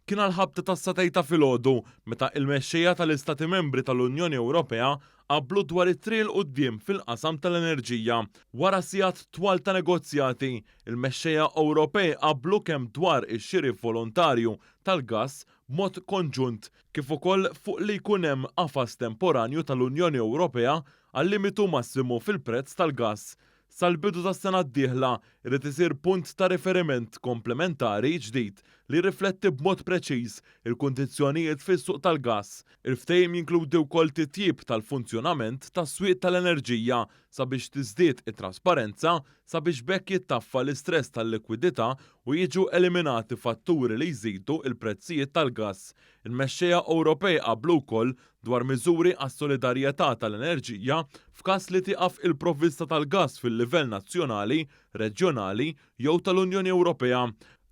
kien għall-ħabta tas-satejn ta' filgħodu meta il-mexxejja tal-Istati Membri tal-Unjoni Ewropea qablu dwar it-triq 'l quddiem fil-qasam tal-enerġija. Wara sigħat twal ta' negozjati, il-mexxejja Ewropej qablu kemm dwar ix-xiri volontarju tal-gass b'mod konġunt kif ukoll fuq li jkun hemm qafas temporanju tal-Unjoni Ewropea għal limitu massimu fil-prezz tal-gass Sal-bidu tas-sena d-dieħla, irid isir punt ta' riferiment komplementari ġdid li jirrifletti b'mod preċiż il-kundizzjonijiet fis-suq tal-gass. Il-ftehim jinkludi wkoll titjib tal-funzjonament tas-swieq tal-enerġija sabiex tiżdied it-trasparenza sabiex b'hekk jittaffa l-istress tal-likwidità u jiġu eliminati fatturi li jżidu l-prezzijiet tal-gass. Il-mexxejja Ewropej qablu wkoll dwar miżuri għas-solidarjetà tal-enerġija f'każ li tieqaf il-provvista tal-gass fil-livell nazzjonali, reġjonali jew tal-Unjoni Ewropea.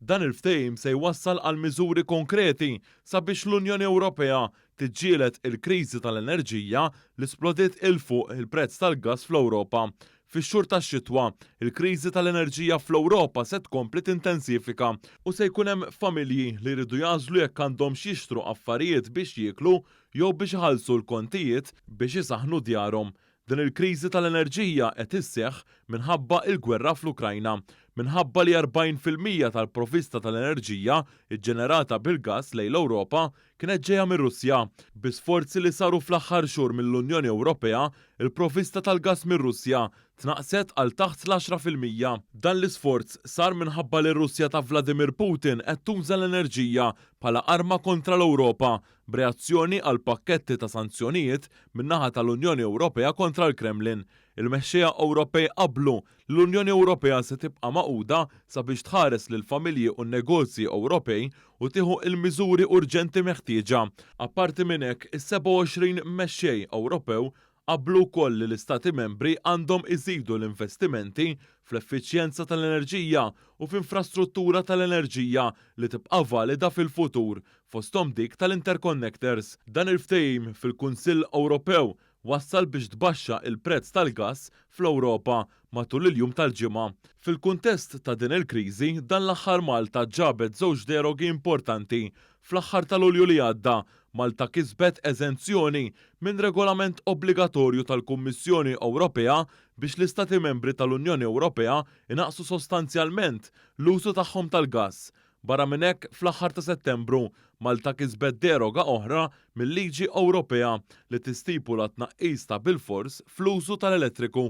Dan il-Ftehim se jwassal għal miżuri konkreti sabiex l-Unjoni Ewropea tiġġieled il-kriżi tal-enerġija li splodiet 'il fuq il-prezz tal-gass fl-Ewropa, Fix-xhur tax-xitwa, il-kriżi tal-enerġija fl-Ewropa se tkompli tintensifika u se jkun hemm familji li jridu jagħżlu jekk għandhomx jixtru affarijiet biex jieklu jew biex iħallsu l-kontijiet biex isaħħnu djarhom. Din il-kriżi tal-enerġija qed isseħħ minħabba il-gwerra fl-Ukrajna. Minħabba li 40 fil-mija tal-provista tal-enerġija ġġenerata bil-gass lejn l-Ewropa kienet ġejja mir-Russja. Bi sforzi li saru fl-aħħar xhur mill-Unjoni Ewropea, il-provista tal-gass mir-Russja tnaqqset għal taħt l-għaxra fil-mija. Dan l-isforz sar minħabba li r-Russja ta' Vladimir Putin qed tuża l-enerġija bħala arma kontra l-Ewropa, b'reazzjoni għal pakketti ta' sanzjonijiet min-naħa tal-Unjoni Ewropea kontra l-Kremlin. Il-mexxejja Ewropej qablu L-Unjoni Ewropea se tibqa' magħquda sabiex tħares lill-familji u n-negozji Ewropej u tieħu l-miżuri urġenti meħtieġa. Apparti minn hekk, is-27 Mexxej Ewropew qablu wkoll li l-Istati Membri għandhom iżidu l-investimenti fl-effiċjenza tal-enerġija u f'infrastruttura tal-enerġija li tibqa' valida fil-futur, fosthom dik tal-interconnectors. Dan il-ftehim fil-Kunsill Ewropew wassal biex tbaxxa l-prezz tal-gass fl-Ewropa matul il-jum tal-Ġimgħa. Fil-kuntest ta' din il-kriżi, dan l-aħħar Malta ġabet żewġ derogi importanti. Fl-aħħar ta' Lulju li għadda, Malta kisbet eżenzjoni minn regolament obbligatorju tal-Kummissjoni Ewropea biex l-Istati Membri tal-Unjoni Ewropea jnaqqsu sostanzjalment l-użu tagħhom tal-gass Barra minn hekk, fl-aħħar ta' Settembru, Malta kisbet deroga oħra mil-liġi Ewropea li tistipula t-tnaqqis ta' bilfors fl-użu tal-elettriku.